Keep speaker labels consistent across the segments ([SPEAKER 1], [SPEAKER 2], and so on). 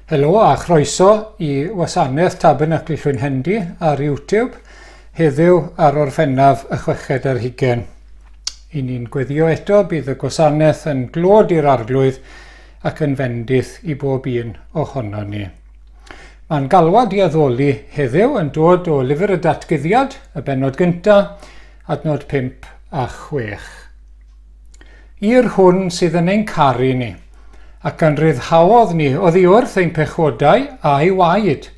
[SPEAKER 1] Helo a chroeso i wasanaeth Tabernacl Llwyn Hendy ar YouTube heddiw ar orffennaf y chweched ar hugen. I ni'n gweddio eto bydd y gwasanaeth yn glod i'r arglwydd ac yn fendith i bob un ohono ni. Mae'n galwad i addoli heddiw yn dod o lyfr y datguddiad, y benod gyntaf, Adnod 5 a 6. I'r hwn sydd yn ein caru ni, ac yn rhyddhaodd ni oddi wrth ein pechodau a'i waed,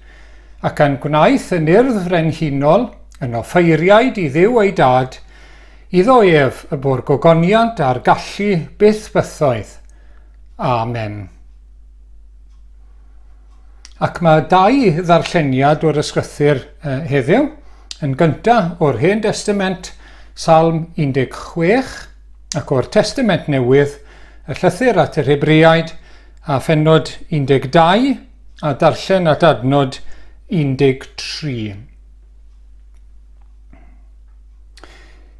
[SPEAKER 1] ac a'n gwnaeth yn urdd frenhinol, yn offeiriaid i Dduw ei Dad, iddo ef y bo'r gogoniant a'r gallu byth bythoedd. Amen. Ac mae dau ddarlleniad o'r Ysgrythur heddiw. Yn gynta, o'r Hen Destament, Salm 16, ac o'r Testament Newydd, y Llythyr at yr Hebraiaid, a phennod 12, a darllen at adnod 13.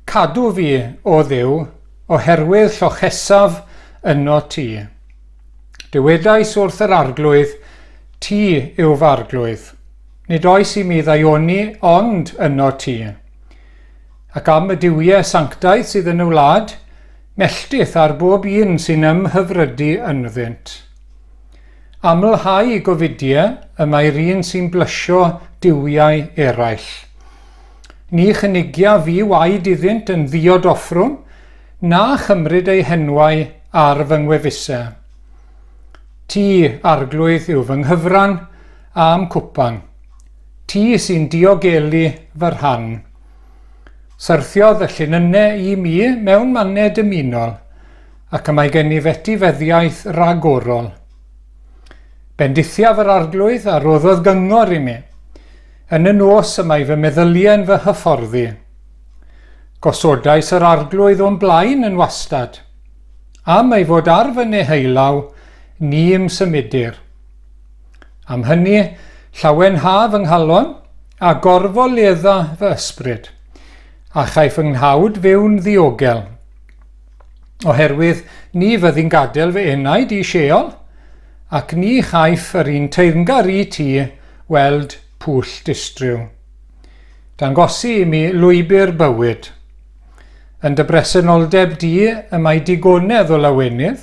[SPEAKER 1] Cadw fi, o Dduw, oherwydd llochesaf yno ti. Dywedais wrth yr Arglwydd, Ti yw f'Arglwydd, nid oes i mi ddaioni ond yno ti. Ac am y duwiau sanctaidd sydd yn y wlad, melltith ar bob un sy'n ymhyfrydu ynddynt. Amlhau gofidiau y mae'r un sy'n blysio duwiau eraill. Ni chynigia fi waed iddynt yn ddiodoffrwn, na chymryd eu henwau ar fy ngwefusau. Ti, Arglwydd, yw fy nghyfran a'm cwpan. Ti sy'n diogelu fy rhan. Syrthiodd y llinynnau i mi mewn mannau dymunol, ac y mae gen i fetifeddiaeth ragorol. Bendithiaf yr Arglwydd a roddodd gyngor i mi. Yn y nos y mae fy meddyliau'n fy hyfforddi. Gosodais yr arglwydd o'n blaen yn wastad. Am ei fod ar fy neheulaw, ni ym symudir. Am hynny, llawenha fy nghalon, a gorfoledda fy ysbryd, a chaiff fy nghawd fyw'n ddiogel. Oherwydd ni fyddi'n gadael fy enaid i Sheol, ac ni chaiff yr un teyrngar i ti weld pwll distryw. Dangosi i mi lwybr bywyd. Yn dy bresenoldeb di y mae digonedd o lawenydd,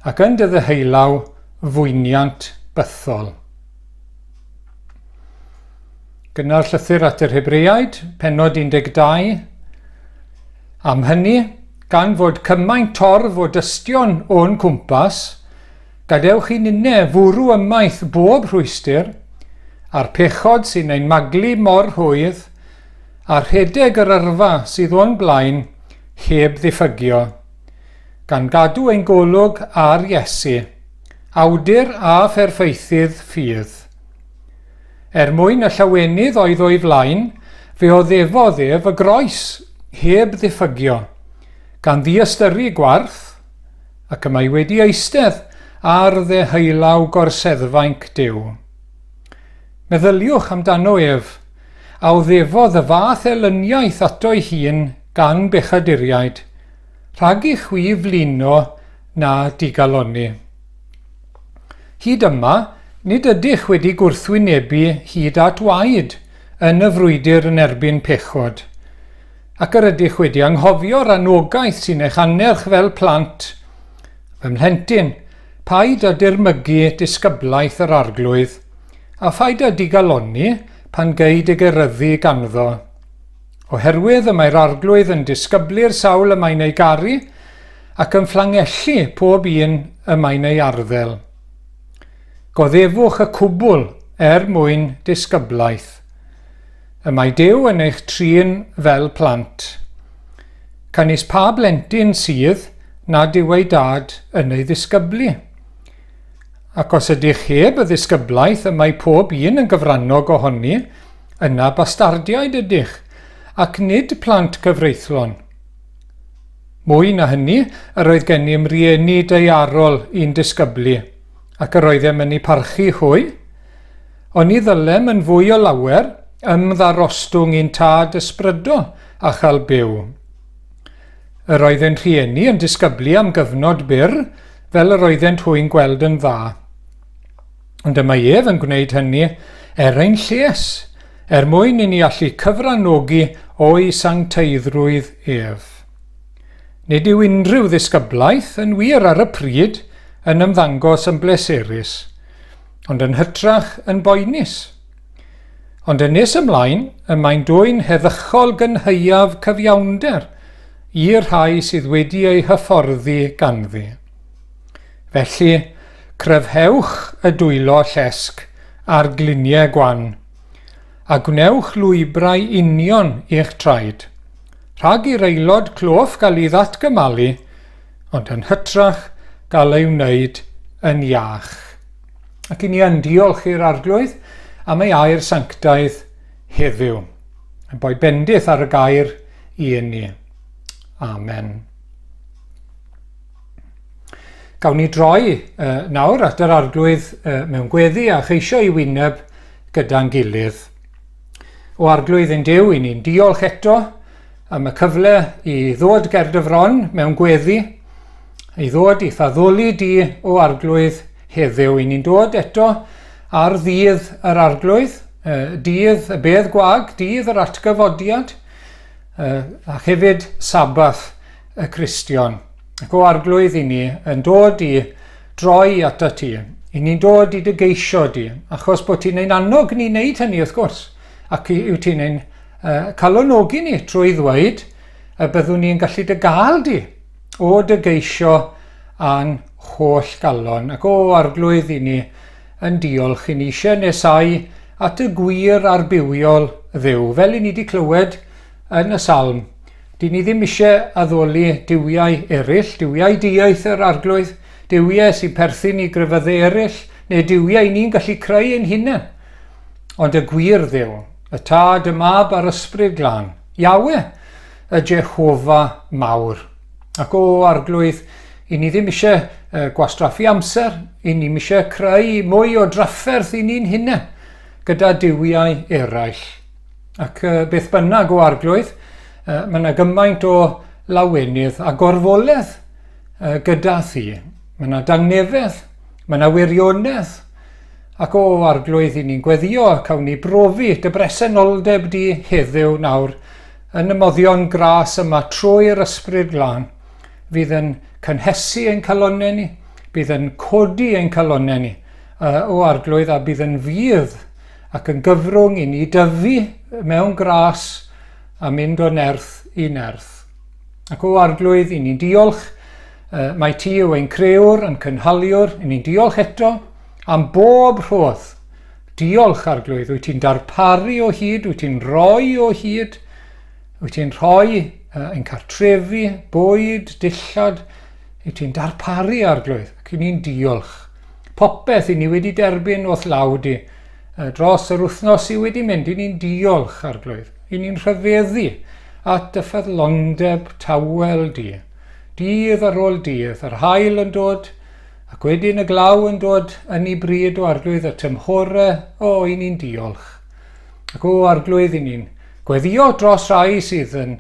[SPEAKER 1] ac yn dy ddyheulaw fwyniant bythol. Gynna'r llythyr at yr Hebreaid, penod 12. Am hynny, gan fod cymaint torf o dystion o'n cwmpas, Gadewch i ninne fwrw ymaith bob rhwystr, a'r pechod sy'n ein maglu mor rhwydd, a rhedeg yr yrfa sydd o'n blaen heb ddiffygio, gan gadw ein golwg ar Iesu, Awdur a Pherffeithydd ffydd. Er mwyn y llawenydd oedd o'i flaen, fe oddefodd ef y groes heb ddiffygio, gan ddiystyru gwarth, ac y mae wedi eistedd ar ddeheullaw gorseddfainc Duw. Meddyliwch amdano ef, a oddefodd y fath elyniaeth ato'i hun gan bechaduriaid, rhag i chwi flino na digalonni. Hyd yma, nid ydych wedi gwrthwynebu hyd at waed yn y frwydr yn erbyn pechod. ac yr ydych wedi anghofio'r anogaeth sy'n eich annerch fel plant, fy mhlentyn, paid â dirmygu disgyblaeth yr Arglwydd, a phaid â digalonni pan gei dy geryddu ganddo. Oherwydd y mae'r Arglwydd yn disgyblu'r sawl y mae'n ei garu, ac yn fflangellu pob un y mae'n ei arddel. Goddefwch y cwbl er mwyn disgyblaeth. Y mae Duw yn eich trin fel plant. Canys pa blentyn sydd nad yw ei dad yn ei ddisgyblu? Ac os ydych heb y ddisgyblaeth y mae pob un yn gyfrannog ohoni, yna bastardiaid ydych, ac nid plant cyfreithlon. Mwy na hynny, yr oedd gennym rieni daearol i'n disgyblu, ac yr oeddem yn eu parchu hwy, Ond ni ddylem yn fwy o lawer ymddarostwng i'n tad ysbrydo a chael byw. Yr oedd ein rhieni yn disgyblu am gyfnod byr, fel yr oeddent hwy'n gweld yn dda. Ond y mae ef yn gwneud hynny er ein lles, er mwyn i ni allu cyfranogi o'i sancteiddrwydd ef. Nid yw unrhyw ddisgyblaeth, yn wir ar y pryd, yn ymddangos yn bleserus. ond yn hytrach yn boenus. Ond yn nes ymlaen, y mae'n dwy'n heddychol gynhaeaf cyfiawnder i'r rhai sydd wedi eu hyfforddi ganddi. Felly, cryfhewch y dwylo llesg a'r gliniau gwan, a gwnewch lwybrau union i'ch traed, rhag i'r aelod cloff gael ei ddatgymalu ond yn hytrach gael ei wneud yn iach. Ac i ni yn diolch i'r Arglwydd am ei air sanctaidd heddiw. Yn boi bendith ar y gair i ni. Amen. Gawn ni droi uh, nawr at yr Arglwydd uh, mewn gweddi a cheisio i wyneb gyda'n gilydd. O Arglwydd ein Duw, i ni'n diolch eto am y cyfle i ddod ger dy fron mewn gweddi, i ddod i faddoli di o Arglwydd heddiw. I ni'n dod eto ar ddydd yr Arglwydd, dydd y bedd gwag, dydd yr atgyfodiad, a hefyd sabath y Cristion. Ac o Arglwydd i ni yn dod i Droi atat ti. I ni'n dod i dy geisio di, achos bod ti'n ein annog ni wneud hynny wrth gwrs, ac yw ti'n ein uh, calonogi ni trwy ddweud y byddwn ni'n gallu dy gael di o dy geisio a'n holl galon, ac o arglwydd i ni yn diolch i ni eisiau nesau at y gwir a'r bywiol ddew, fel i ni wedi clywed Yn y Salm, dŷn ni ddim eisiau addoli duwiau eraill, duwiau dieithr yr arglwydd, duwiau sy'n perthyn i grefyddau eraill, neu duwiau ni'n gallu creu ein hunain. Ond y gwir dduw, y tad, y mab a'r ysbryd glân, Iawe, y Jehofa mawr. Ac o arglwydd, i ni ddim eisiau uh, gwastraffu amser, i ni eisiau creu mwy o drafferth i ni'n hunain gyda duwiau eraill. Ac uh, beth bynnag o arglwydd, uh, mae yna gymaint o lawenydd a gorfoledd uh, gyda thi. Mae yna dangnefedd, mae yna wirionedd, ac o arglwydd i ni'n gweddio, cawn ni brofi dy bresenoldeb di heddiw nawr, yn y moddion gras yma trwy'r ysbryd glân, fydd yn cynhesu ein calonau ni, bydd yn codi ein calonau ni, uh, o arglwydd a bydd yn fydd ac yn gyfrwng i ni dyfu mewn gras a mynd o nerth i nerth. Ac o Arglwydd, i ni'n diolch, mae ti yw ein creuwr, yn cynhaliwr, i ni'n diolch eto am bob rhodd. Diolch, Arglwydd, wyt ti'n darparu o hyd, wyt ti'n rhoi o hyd, wyt ti'n rhoi uh, yn cartrefi, bwyd, dillad, wyt ti'n darparu, Arglwydd, ac i ni'n diolch. Popeth i ni wedi derbyn o'th law di yy dros yr wythnos sy wedi mynd, i ni'n diolch, Arglwydd. I ni'n rhyfeddu at dy ffyddlondeb tawel di. Dydd ar ôl dydd, yr haul yn dod, ac wedyn y glaw yn dod, yn i bryd o Arglwydd y tymhore, o, i ni'n diolch. Ac o Arglwydd i ni'n gweddio dros rai sydd yn,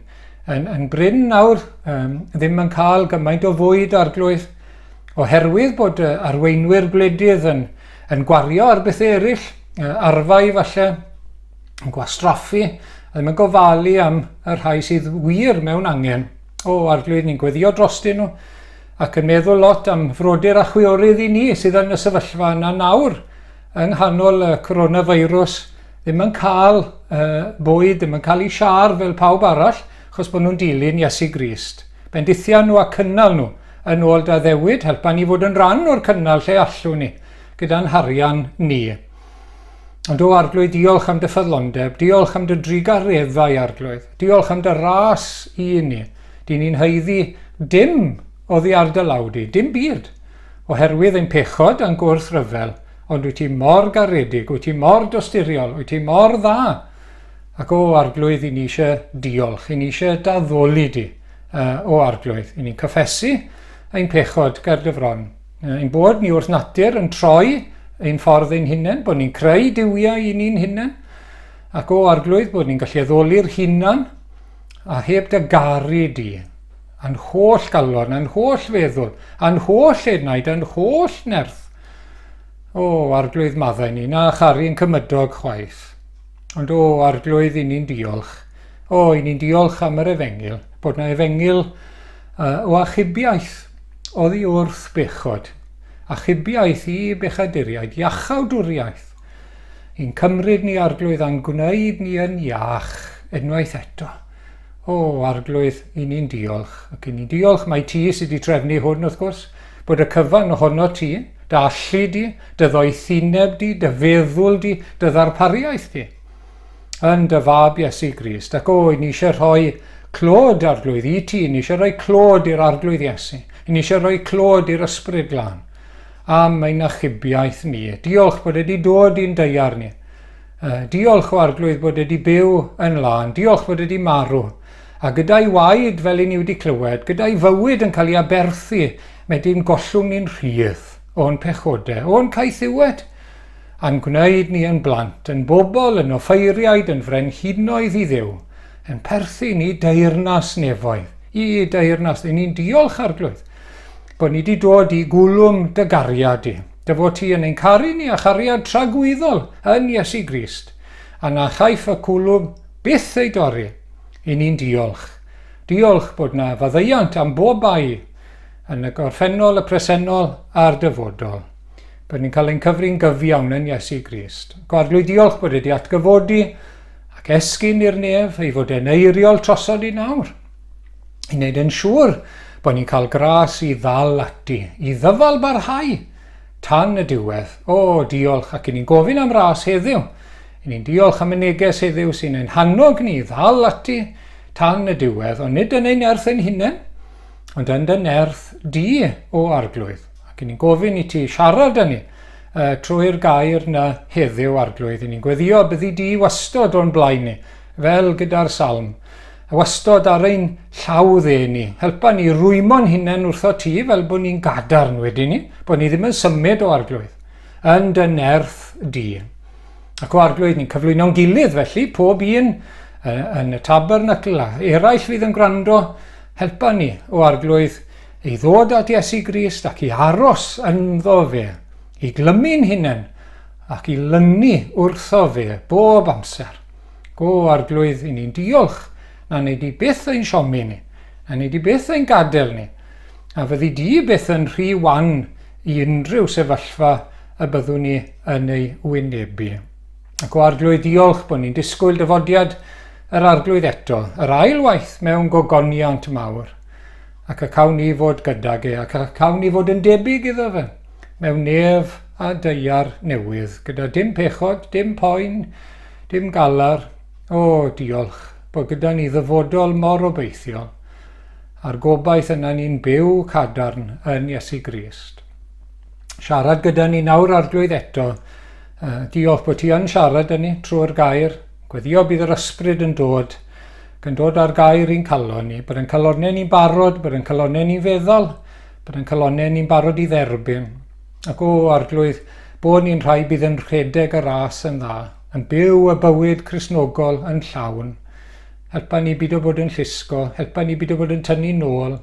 [SPEAKER 1] yn, yn brin nawr, um, ddim yn cael gymaint o fwyd, Arglwydd, oherwydd bod yy arweinwyr gwledydd yn yn gwario ar bethe eryll, yy arfau falle, yn gwastraffu, a ddim yn gofalu am y rhai sydd wir mewn angen o arglwydd ni'n gweddio drostyn nhw ac yn meddwl lot am frodyr a chwiorydd i ni sydd yn y sefyllfa yna nawr yng nghanol y coronavirus ddim yn cael uh, bwyd, ddim yn cael eu siar fel pawb arall, achos bod nhw'n dilyn Iesu Grist. Bendithiau nhw a cynnal nhw. Yn ôl Daddewid, helpa ni fod yn rhan o'r cynnal lle allwn ni, gyda'n harian ni. Ond o Arglwydd, diolch am dy ffyddlondeb, diolch am dy drugareddau, Arglwydd, diolch am dy ras i ni. Dyn ni'n haeddu dim oddi ar dy law di, dim byd, oherwydd ein pechod a'n gwrthryfel, ond wyt ti mor garedig, wyt ti mor dosturiol, wyt ti mor dda. Ac o Arglwydd, i ni eisiau diolch, i ni eisiau daddoli di. o Arglwydd. I ni'n cyffesu ein pechod ger dy fron. Ein bod ni wrth natur yn troi ein ffordd ein hunain, bod ni'n creu diwiau i ni'n hunain, ac o Arglwydd bod ni'n gallu addoli'r hunan a heb dy garu di, a'n holl galon, a'n holl feddwl, a'n holl enaid, a'n holl nerth. O, arglwydd maddau ni, na charu yn cymydog chwaith. Ond o, arglwydd i ni'n diolch, O, i ni'n diolch am yr efengyl, bod na efengyl uh, o achubiaeth oddi wrth bechod, achubiaeth i bechaduriaid, iachawdwriaeth, i'n cymryd ni arglwydd a'n gwneud ni yn iach unwaith eto. O, arglwydd, i ni'n diolch, ac i ni'n diolch mae ti sydd wedi trefnu hwn, wrth gwrs, bod y cyfan ohono ti, dy allu di, dy ddoethineb di, dy feddwl di, dy ddarpariaeth di. yn dy fab Iesu Grist. Ac o, i ni eisiau rhoi clod arglwydd i ti, i ni eisiau rhoi clod i'r arglwydd Iesu, i ni eisiau rhoi clod i'r ysbryd glân am ein achubiaeth ni. Diolch bod wedi dod i'n deiar ni. Diolch o arglwydd bod wedi byw yn lân. Diolch bod wedi marw. A gyda'i waed, fel i ni wedi clywed, gyda'i fywyd yn cael ei aberthu, mae dyn gollwng ni'n rhydd o'n pechodau, o'n caethiwed. a'n gwneud ni yn blant, yn bobl, yn offeiriaid, yn frenhinoedd i Dduw, yn perthyn i deyrnas nefoedd, i deyrnas, i ni'n diolch arglwydd, bod ni wedi dod i gwlwm dy gariad di, dy fod ti yn ein caru ni a chariad tragwyddol yn Iesu Grist, a na chaiff y cwlwm byth ei dorri, i ni'n diolch. Diolch bod na faddeuant am bob bai yn y gorffennol, y presennol a'r dyfodol. Byddwn yn cael ein cyfri'n gyfiawn yn Iesu Grist. Ac o arglwydd diolch bod wedi atgyfodi ac esgyn i'r nef ei fod e'n eiriol trosod i nawr. I wneud yn siŵr bod ni'n cael gras i ddal ati, i ddyfal barhau tan y diwedd. O, diolch ac i ni'n gofyn am ras heddiw. I ni'n diolch am y neges heddiw sy'n ein hannog ni i ddal ati tan y diwedd, ond nid yn ein nerth ein hunain, ond yn dy nerth di, o arglwydd. Ac i ni'n gofyn i ti siarad â ni uh, trwy'r gair na heddiw, Arglwydd. I ni'n gweddio byddi di wastod o'n blaen ni, fel gyda'r salm. A wastod ar ein llaw dde ni. Helpa ni rwymo'n hunain wrtho ti fel bod ni'n gadarn wedyn ni, bod ni ddim yn symud o Arglwydd, yn dy nerth di. Ac o Arglwydd, ni'n cyflwyno'n gilydd felly, pob un yn y tabernacl a eraill fydd yn gwrando, helpa ni o Arglwydd I ddod at Iesu Grist ac i aros ynddo fe, i glymu'n hunain ac i lynu wrtho fe bob amser. O, Arglwydd, i ni'n diolch na nei di byth ein siomi ni, a nei di byth ein gadael ni, a fyddi di byth yn rhy wan i unrhyw sefyllfa y byddwn ni yn ei wynebu. Ac o Arglwydd, diolch bod ni'n disgwyl dyfodiad yr Arglwydd eto, yr ail waith mewn gogoniant mawr. Ac y cawn ni fod gydag e, ac y cawn ni fod yn debyg iddo fe, mewn nef a daear newydd, gyda dim pechod, dim poen, dim galar. O, diolch, bod gyda ni ddyfodol mor obeithiol, a'r gobaith yna ni'n byw cadarn yn Iesu Grist. Siarad gyda ni nawr, arglwydd, eto. Uh, diolch bod ti yn siarad â ni trwy'r gair. Gweddio bydd yr ysbryd yn dod Gan dod â'r gair i'n calon ni, byddai'n calonnau ni'n barod, byddai'n calonnau ni'n feddwl, byddai'n calonnau ni'n barod i dderbyn. Ac o arglwydd, bod ni'n rhai bydd yn rhedeg y ras yn dda, yn byw y bywyd Crisnogol yn llawn. Helpa ni byd o bod yn llusgo, helpa ni byd o bod yn tynnu nôl,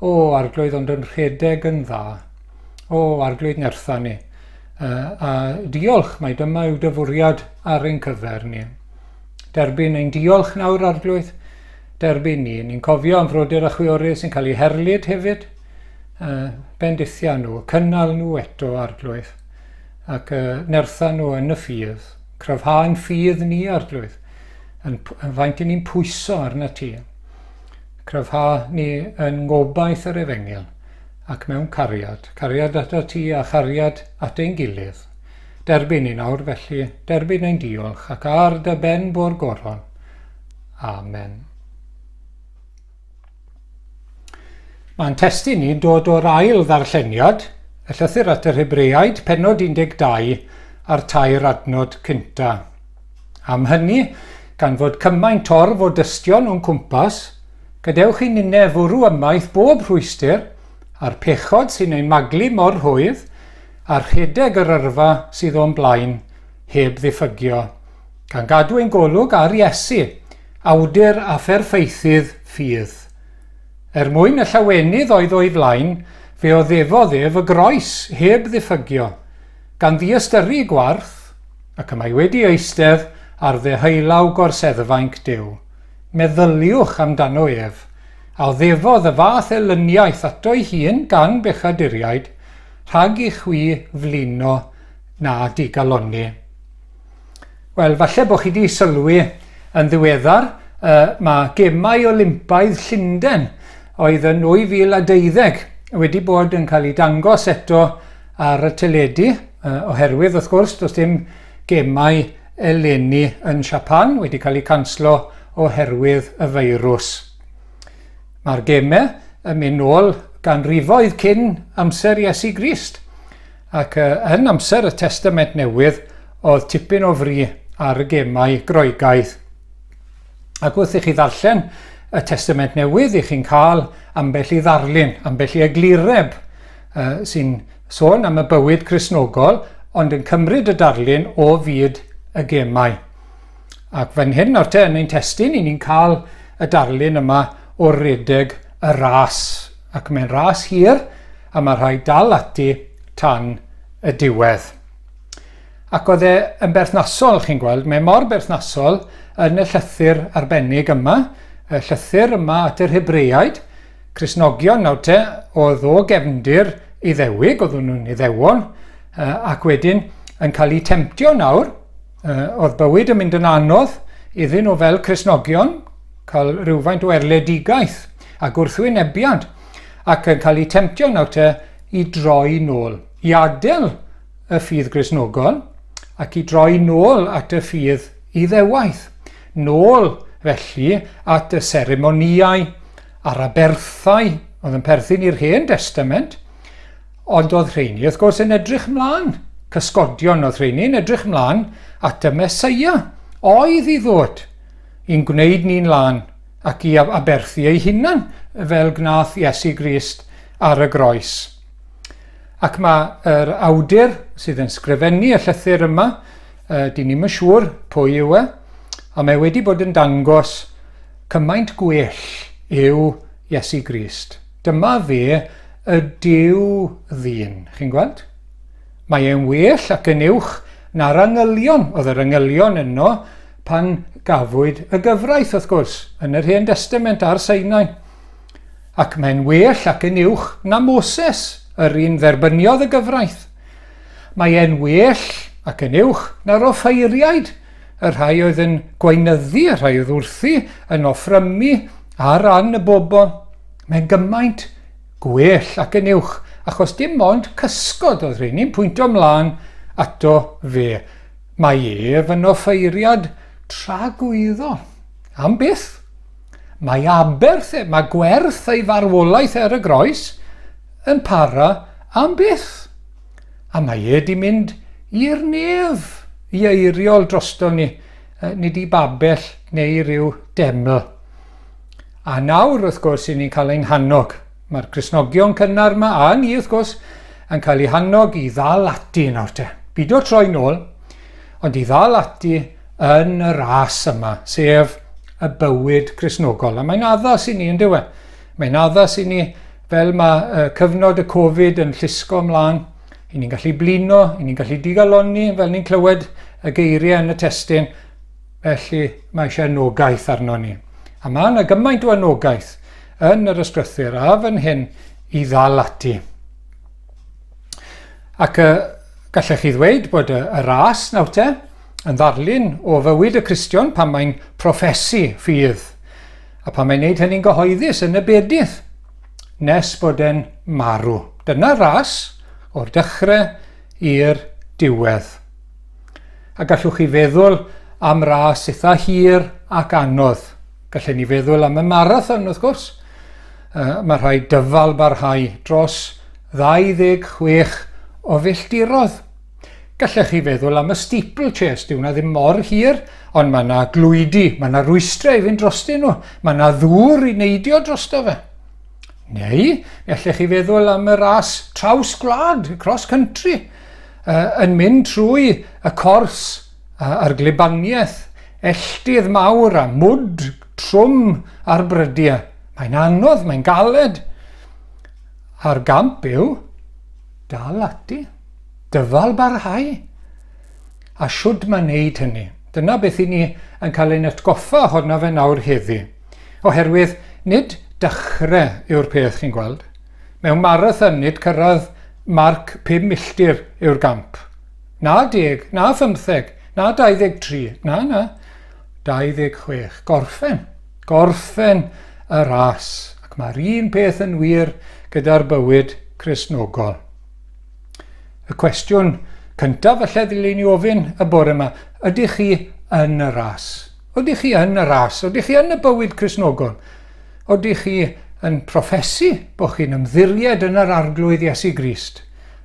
[SPEAKER 1] o arglwydd ond yn rhedeg yn dda. O arglwydd nertha ni. Uh, a diolch, mae dyma yw dyfwriad ar ein cyfer ni. Derbyn ein diolch nawr, Arglwydd. Derbyn ni. Ni'n cofio am frodyr a chwiorydd sy'n cael eu herlid hefyd. Uh, bendithia nhw, cynnal nhw eto, Arglwydd. Ac uh, nertha nhw yn y ffydd. Cryfhau'n ffydd ni, Arglwydd. Yn, yn faint i ni'n pwyso arna ti. Cryfha ni yn ngobaith yr efengil ac mewn cariad. Cariad at ti a chariad at ein gilydd. Derbyn i nawr, felly, derbyn ein diolch, ac ar dy ben bo'r goron. Amen. Mae'n testyn ni'n dod o'r ail ddarlleniad, y llythyr at yr Hebreaid, penod 12, a'r tair adnod cynta. Am hynny, gan fod cymaint torf o dystion o'n cwmpas, gadewch i ninne fwrw ymaith bob rhwystyr a'r pechod sy'n ein maglu mor rhwydd, a rhedeg yr yrfa sydd o'n blaen heb ddiffygio, gan gadw ein golwg ar Iesu, awdur a pherffeithydd ffydd. Er mwyn y llawenydd oedd o'i flaen, fe oddefodd ef y groes heb ddiffygio, gan ddiystyru gwarth, ac y mae wedi eistedd ar ddeheullaw gorseddfainc Duw. Meddyliwch amdano ef, a oddefodd y fath elyniaeth ato'i hun gan bechaduriaid, Rhag i chwi flino na digalonni. Wel, falle bod chi wedi sylwi yn ddiweddar, uh, mae gemau Olympaidd Llundain oedd yn 2012 wedi bod yn cael ei dangos eto ar y teledu, uh, oherwydd wrth gwrs does dim gemau eleni yn Siapan wedi cael eu canslo oherwydd y feirws. Mae'r gemau yn mynd nôl ganrifoedd cyn amser Iesu Grist, ac yn amser y Testament Newydd oedd tipyn o fri ar y gemau Groegaidd. Ac wrth i chi ddarllen y Testament Newydd, i chi'n cael ambell i ddarlun, ambell i eglureb sy'n sôn am y bywyd Cresnogol, ond yn cymryd y darlun o fyd y gemau. Ac fan hyn nawr te yn ein testun, i ni'n cael y darlun yma o redeg y ras. Ac mae'n ras hir, a mae rhai dal ati tan y diwedd. Ac oedd e yn berthnasol, chi'n gweld, mae mor berthnasol yn y llythyr arbennig yma, y llythyr yma at yr Hebreaid, Cresnogion nawr te, oedd o gefndir iddewig, oeddwn nhw'n iddewol, ac wedyn yn cael eu temtio nawr, Oedd bywyd yn mynd yn anodd iddyn nhw fel Cristnogion, cael rhywfaint o erledigaeth a gwrthwynebiad, ac yn cael eu temtio nawr te i droi nôl, i adael y ffydd Gristnogol ac i droi nôl at y ffydd Iddewaith, nôl felly at y seremonïau a'r aberthau oedd yn perthyn i'r Hen Destament, Ond oedd rheini, wrth gwrs, yn edrych mlaen, cysgodion oedd rheini, yn edrych mlaen at y Mesoea, oedd i ddod, i'n gwneud ni'n lân, ac i aberthu ei hunan, fel gnath Iesu Grist ar y groes. Ac mae yr awdur sydd yn sgrifennu y llythyr yma, uh, dyn ni'n siŵr pwy yw e, a mae wedi bod yn dangos cymaint gwell yw Iesu Grist. Dyma fe, y Duw ddyn. Chi'n gweld? Mae e'n well ac yn uwch na'r angylion. Oedd yr angylion yno pan gafwyd y gyfraith, wrth gwrs, yn yr Hen Destament ar Seinau. Ac mae'n well ac yn uwch na Moses, yr un dderbyniodd y gyfraith. Mae e'n well ac yn uwch na'r offeiriaid y rhai oedd yn gweinyddu, y rhai oedd wrthi yn offrymu ar ran y bobl, mae'n gymaint gwell ac yn uwch, achos dim ond cysgod oedd rheini'n pwynto mlaen ato fe. Mae ef yn offeiriad tragwyddo. Am byth. Mae aberth, e, mae gwerth ei farwolaeth ar y groes yn para am byth. a mae e 'di mynd i'r nef i eiriol droston ni, nid i babell neu i ryw deml. A nawr, wrth gwrs, i ni'n cael ein hannog. Mae'r Crisnogion cynnar yma, a ni, wrth gwrs, yn cael ei hannog i ddal ati yn nawr te. Byd o'r troi'n ôl, ond i ddal ati yn y ras yma, sef y bywyd Crisnogol. A mae'n addas i ni, yn dywe. Mae'n addas i ni, fel mae uh, cyfnod y Covid yn llusgo ymlaen, i ni'n gallu blino, i ni'n gallu digalonni, fel ni'n clywed y geiriau yn y testyn, felly mae eisiau anogaeth arno ni. A mae yna gymaint o anogaeth yn yr ysgrythyr a fan hyn i ddal ati. Ac y gallech chi ddweud bod y, y ras nawr te yn ddarlun o fywyd y Cristion pan mae'n proffesi ffydd. A phan mae'n neud hynny'n gyhoeddus yn y bedydd, nes bod e'n marw. Dyna ras o'r dechrau i'r diwedd. A gallwch chi feddwl am ras eitha hir ac anodd. Gallen ni feddwl am y marathon, wrth gwrs. Uh, mae rhai dyfal barhau dros 26 o filltirodd. Gallech chi feddwl am y steeplechase, dyw hwnna ddim mor hir, ond mae yna glwydi, mae yna rwystrau i fynd drostyn nhw, mae yna ddŵr i neidio drosto fe. Neu, mi allech chi feddwl am y ras traws gwlad, cross country, uh, yn mynd trwy y cors uh, a'r glibaniaeth, elltydd mawr a mwd trwm ar brydiau. Mae'n anodd, mae'n galed. A'r gamp yw, Dal ati. Dyfal barhau. A shwd mae wneud hynny? Dyna beth i ni yn cael ein atgoffa ohono fe nawr heddi. Oherwydd, nid dechrau yw'r peth, chi'n gweld. Mewn marathon, nid cyrraedd marc pum milltir yw'r gamp. Na deg, na phymtheg, na 23, na, na. 26. Gorffen. Gorffen y ras. Ac mae'r un peth yn wir gyda'r bywyd Cristnogol. Y cwestiwn cyntaf y ddylai ni ofyn y bore yma, ydych chi yn y ras? Ydych chi yn y ras? Ydych chi yn y bywyd Cristnogol? Ydych chi yn profesu bod chi'n ymddiried yn yr arglwydd Iesu Grist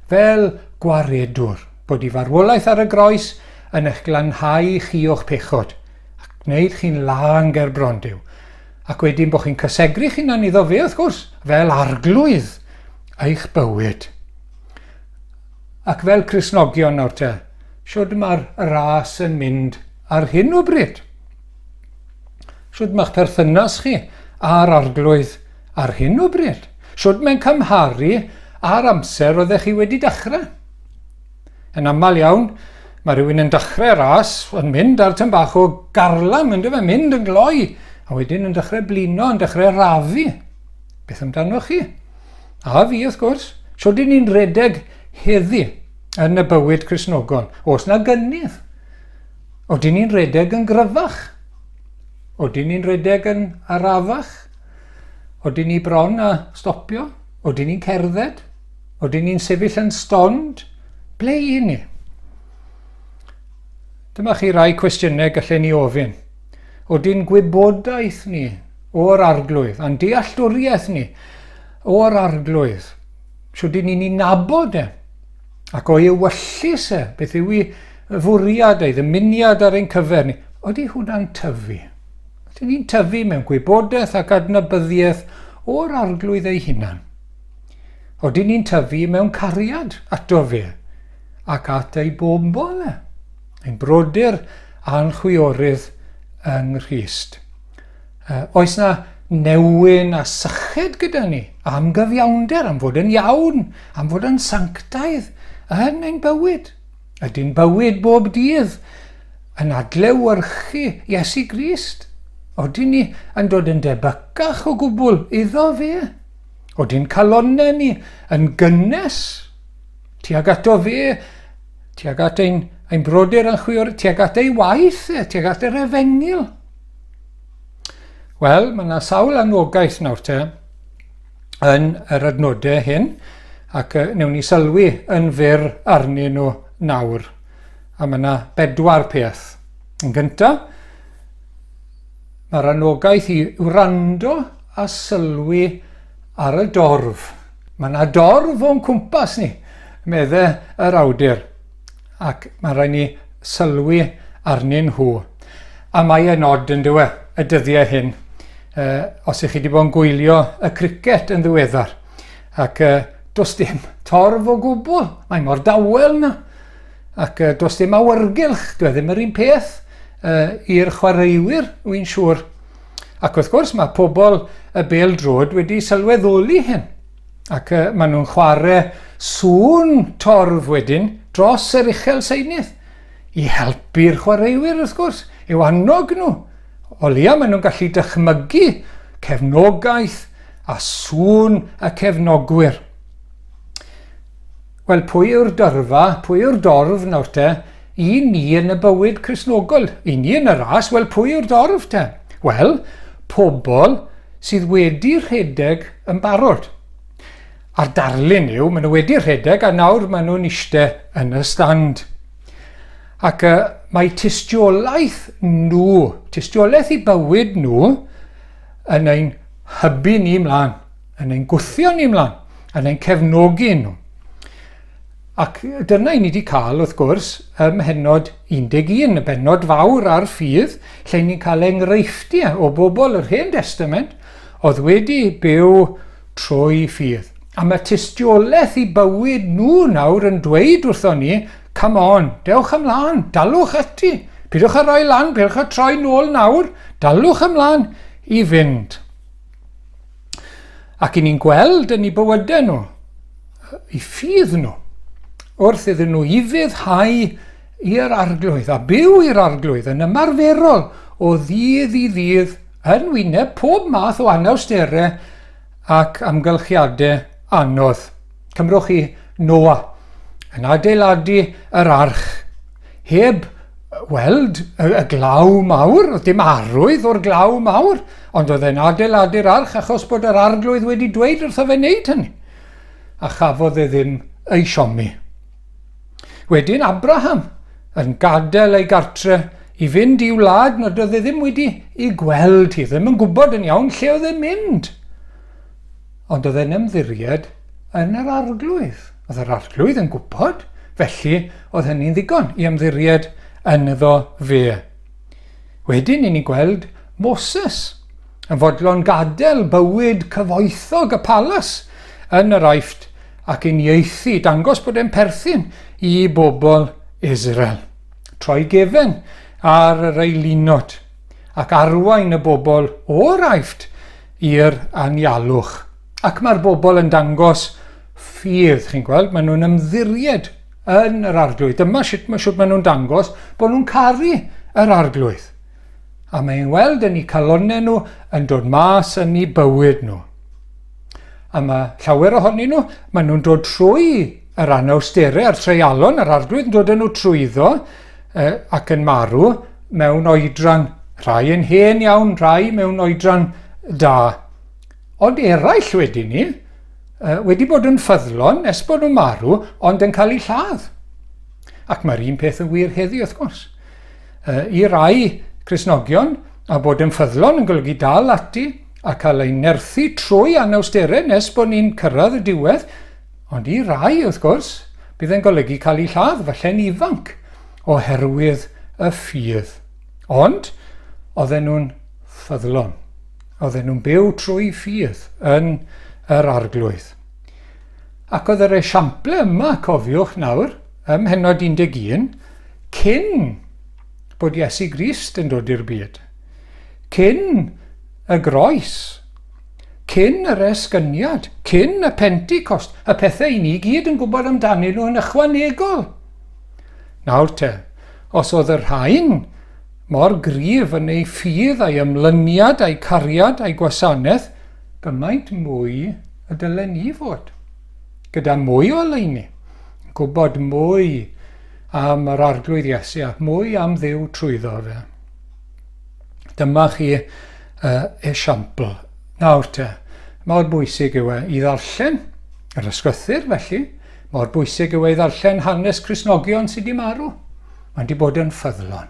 [SPEAKER 1] fel gwaredwr? bod y farwolaeth ar y groes yn eich glanhau chi o'ch pechod, ac gwneud chi'n lân ger bron Duw, ac wedyn bod chi'n cysegru'ch hunan iddo fe, wrth gwrs, fel arglwydd eich bywyd. Ac fel Crisnogion nawr te, siwrd mae'r ras yn mynd ar hyn o bryd? Siwrd mae'ch perthynas chi a'r arglwydd ar hyn o bryd? Siwrd mae'n cymharu â'r amser oeddech chi wedi dechrau? Yn aml iawn, mae rhywun yn dechrau ras, yn mynd ar tym bach o garlam, yn dyfa, mynd yn gloi, a wedyn yn dechrau blino, yn dechrau rafu. Beth amdanoch chi? A fi, wrth gwrs. Sio dyn ni'n redeg heddi yn y bywyd Cresnogol? Os na gynnydd. O dyn ni'n redeg yn gryfach? O dyn ni'n redeg yn arafach? O dyn ni bron a stopio? O dyn ni'n cerdded? Oedden ni'n sefyll yn stond, ble i ni? Dyma chi rai cwestiynau gallen ni ofyn. Oedden gwybodaeth ni o'r arglwydd, a'n dealltwriaeth ni o'r arglwydd, siwyd ni'n ni nabod e, ac o'i ewyllus e, beth yw i fwriad ei ddymuniad ar ein cyfer ni, oeddi hwnna'n tyfu. Oedden ni'n tyfu mewn gwybodaeth ac adnabyddiaeth o'r arglwydd ei hunan. Oedden ni'n tyfu mewn cariad ato fe ac at ei bobl e, ein brodyr a'n chwiorydd yng Nghrist. Uh, oes na newyn a syched gyda ni am gyfiawnder, am fod yn iawn, am fod yn sanctaidd yn ein bywyd. Ydy'n bywyd bob dydd yn adlewyrchu Iesu Grist? Oedden ni yn dod yn debycach o gwbl iddo fe? Od i'n calonne ni yn gynnes, tuag ato fe, tuag at ein, ein brodyr a'n chwior, tuag at ei waith e, tuag at yr efengil. Wel, mae yna sawl anogaeth nawr te yn yr adnodau hyn, ac uh, newn ni sylwi yn fyr arnyn nhw nawr. A mae yna bedwar peth. Yn gyntaf, mae'r anogaeth i wrando a sylwi ar y dorf. Mae yna dorf o'n cwmpas ni, meddai yr awdur, ac mae'n rhaid ni sylwi arnyn nhw. A mae e'n od yn dywe, y dyddiau hyn, uh, os ych chi wedi bod yn gwylio y cricet yn ddiweddar, ac uh, does dim torf o gwbl, mae mor dawel yna, ac uh, does dim awyrgylch, dwi e ddim yr un peth uh, i'r chwaraewyr, wy'n siŵr. Ac wrth gwrs mae pobl y bel drod wedi sylweddoli hyn ac uh, maen nhw'n chwarae sŵn torf wedyn dros yr uchel seinydd i helpu'r chwaraewyr wrth gwrs, yw annog nhw. O leia maen nhw'n gallu dychmygu cefnogaeth a sŵn y cefnogwyr. Wel, pwy yw'r dyrfa, pwy yw'r dorf nawr te? I ni yn y bywyd Cristnogol, i ni yn y ras, wel, pwy yw'r dorf te? Wel, pobl sydd wedi rhedeg yn barod. A'r darlun yw, maen nhw wedi rhedeg a nawr maen nhw'n eistedd yn y stand. Ac uh, mae tystiolaeth nhw, tystiolaeth i bywyd nhw, yn ein hybu ni mlaen. yn ein gwthio ni mlaen, yn ein cefnogi nhw. Ac dyna i ni wedi cael, wrth gwrs, ym mhenod 11, y benod fawr ar ffydd, lle ni'n cael enghreifftiau o bobl yr Hen Destament oedd wedi byw trwy ffydd. A mae tystiolaeth i bywyd nhw nawr yn dweud wrtho ni, come on, dewch ymlaen, dalwch ati, pidwch a roi lan, pidwch a troi nôl nawr, dalwch ymlaen i fynd. Ac i ni'n gweld yn eu bywydau nhw, i ffydd nhw, wrth iddyn nhw ufuddhau i'r arglwydd a byw i'r arglwydd yn ymarferol o ddydd i ddydd yn wyneb pob math o anawsterau ac amgylchiadau anodd. Cymrwch chi Noa yn adeiladu yr arch heb weld y y glaw mawr, oedd dim arwydd o'r glaw mawr, ond oedd e'n adeiladu'r arch achos bod yr arglwydd wedi dweud wrtho fe wneud hynny. A chafodd e ddim ei siomi. Wedyn Abraham yn gadael ei gartre i fynd i wlad nad oedd e ddim wedi ei gweld hi, ddim yn gwybod yn iawn lle oedd e'n mynd. Ond oedd e'n ymddiried yn yr Arglwydd. Oedd yr Arglwydd yn gwybod, felly oedd hynny'n ddigon i ymddiried ynddo fe. Wedyn i ni gweld Moses yn fodlon gadael bywyd cyfoethog y palas yn yr Aifft ac yn ieithu, dangos bod e'n perthyn i bobl Israel. Troi gefen ar yr eilinod. ac arwain y bobl o'r Aifft i'r anialwch. Ac mae'r bobl yn dangos ffydd, chi'n gweld, maen nhw'n ymddiried yn yr arglwydd. Dyma sut mae, sut maen nhw'n dangos bod nhw'n caru yr arglwydd. A mae'n weld yn eu calonnau nhw yn dod mas yn eu bywyd nhw. A mae llawer ohonyn nhw, maen nhw'n dod trwy yr anawsterau a'r treialon, yr arglwydd yn dod yn nhw trwyddo, ac yn marw mewn oedran, rhai yn hen iawn, rhai mewn oedran da. Ond eraill wedyn ni, wedi bod yn ffyddlon nes bod nhw'n marw, ond yn cael eu lladd. Ac mae'r un peth yn wir heddi, wrth gwrs. I rai Cresnogion, a bod yn ffyddlon yn golygu dal ati a cael ein nerthu trwy anawsterau nes bod ni'n cyrraedd y diwedd, Ond i rai, wrth gwrs, bydd yn golygu cael eu lladd, falle'n ifanc, oherwydd y ffydd. Ond, oedden nhw'n ffyddlon. Oedden nhw'n byw trwy ffydd yn yr arglwydd. Ac oedd yr esiample yma, cofiwch nawr, ym mhenod 11, cyn bod Iesu Grist yn dod i'r byd. Cyn y groes, cyn yr esgyniad, cyn y Pentecost, y pethau i ni gyd yn gwybod amdanyn nhw yn ychwanegol. Nawr te, os oedd y rhain mor gryf yn ei ffydd a'i ymlyniad a'i cariad a'i gwasanaeth, gymaint mwy y dylen ni fod, gyda mwy o oleuni, gwybod mwy am yr Arglwydd Iesu a mwy am ddiw trwyddo fe. Dyma chi uh, esiampl. Nawr te, mor bwysig yw e i ddarllen yr ysgrythyr felly, mor bwysig yw e i ddarllen hanes Cresnogion sydd wedi marw. Mae'n wedi bod yn ffyddlon.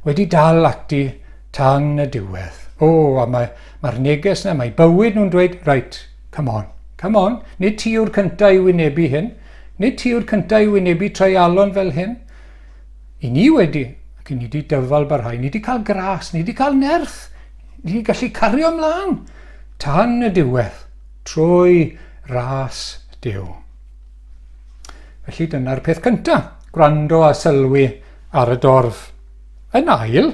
[SPEAKER 1] Wedi dal ati tan y diwedd. O, a mae'r mae, mae neges yna, mae bywyd nhw'n dweud, right, come on, come on, nid ti yw'r cyntaf i wynebu hyn, nid ti yw'r cyntaf i wynebu treialon fel hyn, I ni wedi, ac i ni wedi dyfal barhau, ni wedi cael gras, ni wedi cael nerth, ni wedi gallu cario ymlaen tan y diwedd, trwy ras Dyw. Felly dyna'r peth cyntaf, gwrando a sylwi ar y dorf. Yn ail,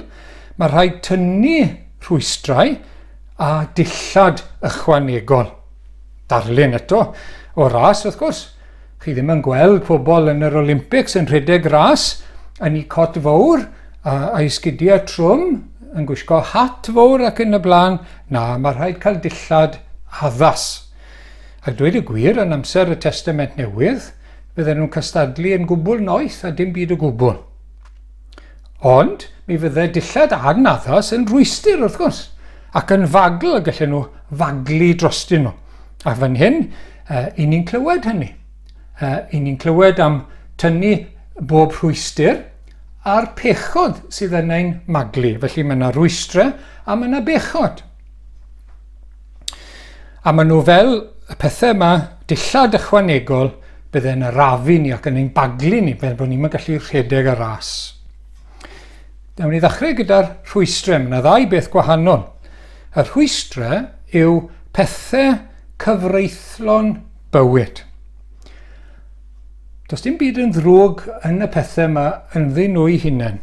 [SPEAKER 1] mae rhaid tynnu rhwystrau a dillad ychwanegol. Darlun eto o ras wrth gwrs, Chi ddim yn gweld pobl yn yr Olympics yn rhedeg ras yn eu cot fawr a'i sgidiau trwm, yn gwisgo hat fawr ac yn y blaen. Na, mae rhaid cael dillad addas. A dweud y gwir, yn amser y Testament Newydd, bydden nhw'n cystadlu yn gwbl noeth a dim byd o gwbl. Ond mi fydde dillad anaddas yn rhwystr, wrth gwrs, ac yn fagl y gallen nhw faglu drostyn nhw. A fan hyn, uh, i ni'n clywed hynny. Uh, I ni'n clywed am tynnu bob rhwystyr a'r pechod sydd yn ein maglu. Felly mae yna rwystrau a mae yna bechod. A maen nhw fel y pethau yma dillad ychwanegol bydde'n arafu ni ac yn ein baglu ni, fel bod ni'n gallu rhedeg y ras. Nawr ni ddechrau gyda'r rhwystrau. Mae yna ddau beth gwahanol. Y rhwystrau yw pethau cyfreithlon bywyd. Does dim byd yn ddrwg yn y pethau yma ynddyn nhw'i hunain.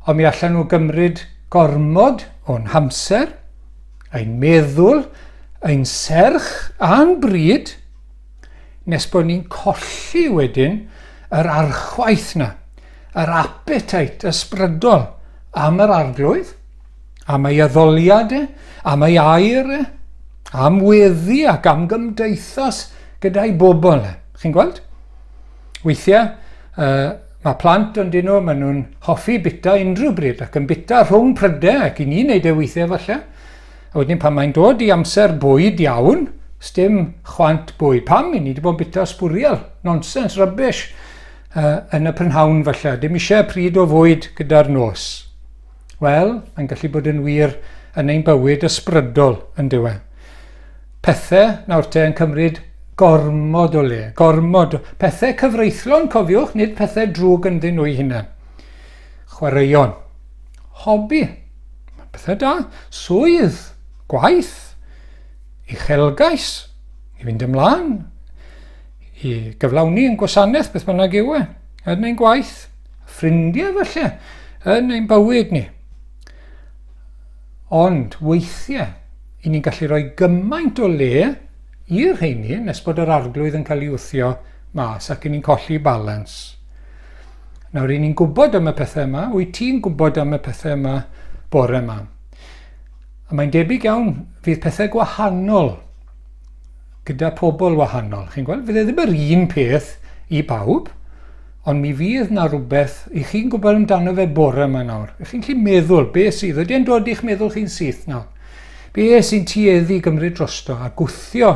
[SPEAKER 1] Ond mi allan nhw gymryd gormod o'n hamser, ein meddwl, ein serch a'n bryd, nes bod ni'n colli wedyn yr archwaith na. yr apetait ysbrydol am yr Arglwydd, am ei addoliad e, am ei air e, am weddi ac am gymdeithas gyda'i bobl e. Chi'n gweld? Weithiau, uh, mae plant yn dyn nhw, maen nhw'n hoffi bita unrhyw bryd ac yn bita rhwng prydau ac i ni wneud e weithiau falle. A wedyn pan mae'n dod i amser bwyd iawn, stym chwant bwyd. Pam? I ni wedi bod yn bita sbwriel, nonsens, rybys. uh, yn y prynhawn falle, dim eisiau pryd o fwyd gyda'r nos. Wel, mae'n gallu bod yn wir yn ein bywyd ysbrydol yn diwe. Pethau nawr te yn cymryd gormod o le, gormod, pethau cyfreithlon cofiwch, nid pethau drwg yn ddyn nhw'i hunain. Chwaraeon, hobi, pethau da, swydd, gwaith, uchelgais, i fynd ymlaen, i gyflawni yn gwasanaeth beth bynnag yw e, yn ein gwaith, ffrindiau felly, yn ein bywyd ni. Ond weithiau, i ni'n gallu rhoi gymaint o le i'r rheini nes bod yr arglwydd yn cael ei wthio mas ac i ni'n colli balans. Nawr, i ni'n gwybod am y pethau yma, wyt ti'n gwybod am y pethau yma bore yma? A mae'n debyg iawn, fydd pethau gwahanol gyda pobl wahanol, chi'n gweld? Fydd e ddim yr un peth i bawb, ond mi fydd na rhywbeth i chi'n gwybod amdano fe bore yma nawr. I chi'n chi'n meddwl, be sydd? Ydy e'n dod i'ch meddwl chi'n syth nawr? Be sy'n tueddu gymryd drosto a gwthio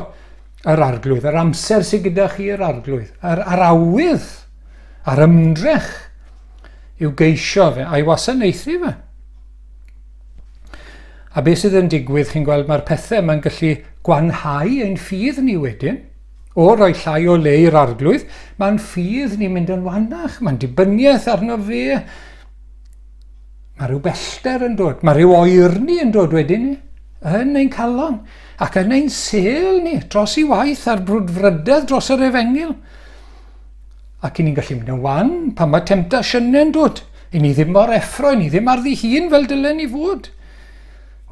[SPEAKER 1] yr arglwydd, yr amser sydd gyda chi yr arglwydd, yr, yr awydd, a'r ymdrech i'w geisio fe, a'i wasanaethu fe. A beth sydd yn digwydd, chi'n gweld, mae'r pethau yma'n gallu gwanhau ein ffydd ni wedyn. O roi llai o le i'r arglwydd, mae'n ffydd ni'n mynd yn wannach, mae'n dibyniaeth arno fe. Mae rhyw bellter yn dod, mae rhyw oerni yn dod wedyn ni, yn ein calon, ac yn ein sel ni, dros i waith a'r brwdfrydedd dros yr efengyl. Ac i ni'n gallu mynd yn wan pan mae temptasiynau'n dod. I ni ddim mor effro, i ni ddim ar ddi hun fel dylen ni fod.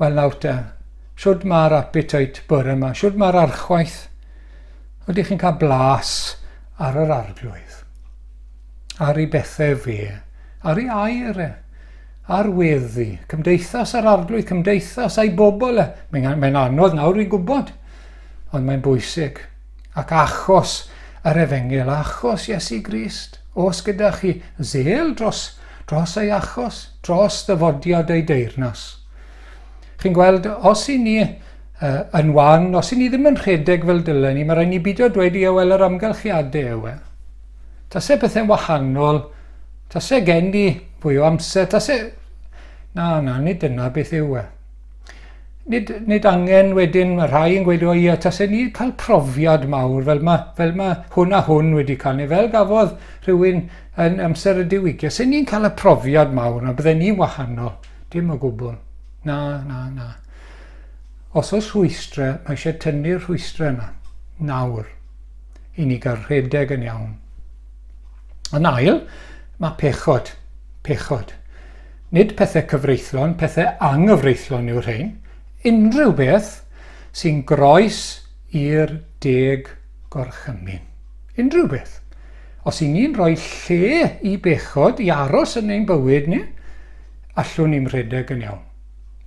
[SPEAKER 1] Wel nawr te, siwrd mae'r appetite bore yma, siwrd mae'r archwaith. Ydych chi'n cael blas ar yr arglwydd, ar ei bethau fe, ar ei air e, ar weddi, cymdeithas ar arglwydd, cymdeithas a'i bobl e. Mae'n anodd nawr i gwybod, ond mae'n bwysig. Ac achos yr efengyl, achos Iesu Grist, os gyda chi zel dros, dros ei achos, dros ddyfodiad ei deyrnas. Chi'n gweld, os i ni uh, yn wan, os i ni ddim yn rhedeg fel dylen ni, mae rhaid ni beidio dweud i ewel yr amgylchiadau ewe. Tase pethau'n wahanol, tase gen ni fwy o amser, tase... Na, na, nid dyna beth yw e. nid, nid angen wedyn, mae rhai yn gweud, o ia, tasen ni cael profiad mawr, fel mae, fel mae hwn a hwn wedi cael, neu fel gafodd rhywun yn amser y diwygio, sy'n ni'n cael y profiad mawr, na bydden ni'n wahanol, dim o gwbl. Na, na, na. Os oes rhwystrau, mae eisiau tynnu'r rhwystrau yna, nawr, i ni gael rhedeg yn iawn. Yn ail, mae pechod, pechod. Nid pethau cyfreithlon, pethau anghyfreithlon yw'r rhain, unrhyw beth sy'n groes i'r deg gorchymyn. Unrhyw beth. Os i ni'n rhoi lle i bechod i aros yn ein bywyd ni, allwn ni'n rhedeg yn iawn.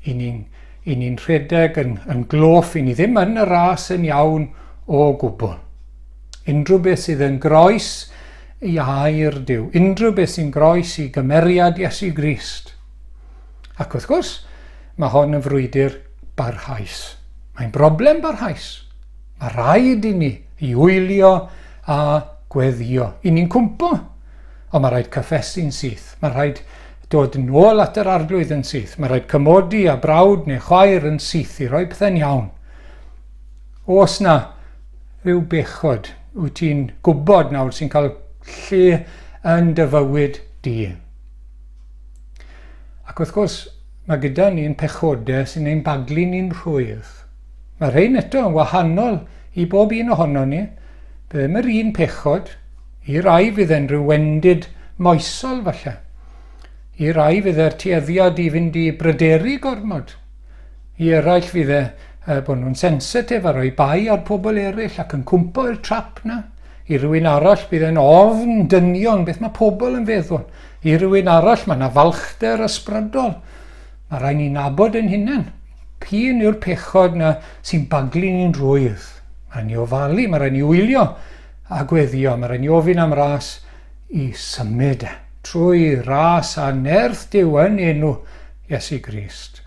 [SPEAKER 1] I ni'n i ni rhedeg yn, yn gloff, i ni ddim yn y ras yn iawn o gwbl. Unrhyw beth sydd yn groes ei air Duw, unrhyw beth sy'n groes i gymeriad Iesu Grist. Ac wrth gwrs, mae hon yn frwydr barhaus. Mae'n broblem barhaus. Mae rhaid i ni i wylio a gweddio, i ni'n cwmpo. Ond mae rhaid cyffesu'n syth. Mae rhaid dod yn ôl at yr arglwydd yn syth. Mae rhaid cymodi a brawd neu chwaer yn syth i roi pethau'n iawn. Os na, Rhyw bechod wyt ti'n gwybod nawr sy'n cael lle yn dy fywyd di. Ac wrth gwrs, mae gyda ni'n pechodau sy'n ein baglu ni'n rhwydd. Mae rhain eto yn wahanol i bob un ohono ni. Bydd ddim yr un pechod. I rai fydd e'n rhyw wendid moesol falle. I rai fydd e'r tueddiad i fynd i bryderu gormod. I eraill fydd e yy bod nhw'n sensitif a rhoi bai ar pobl eraill ac yn cwmpo i'r trap 'na. I rywun arall bydd e'n ofn dynion, beth mae pobl yn feddwl. I rywun arall mae 'na falchder ysbrydol. Mae rhaid ni nabod ein hunain. P'un yw'r pechod 'na sy'n baglu ni'n rwydd. Mae rhaid ni ofalu, mae rhaid ni wylio a gweddio, mae rhaid ni ofyn am ras i symud e. Trwy ras a nerth Duw yn enw Iesu Grist.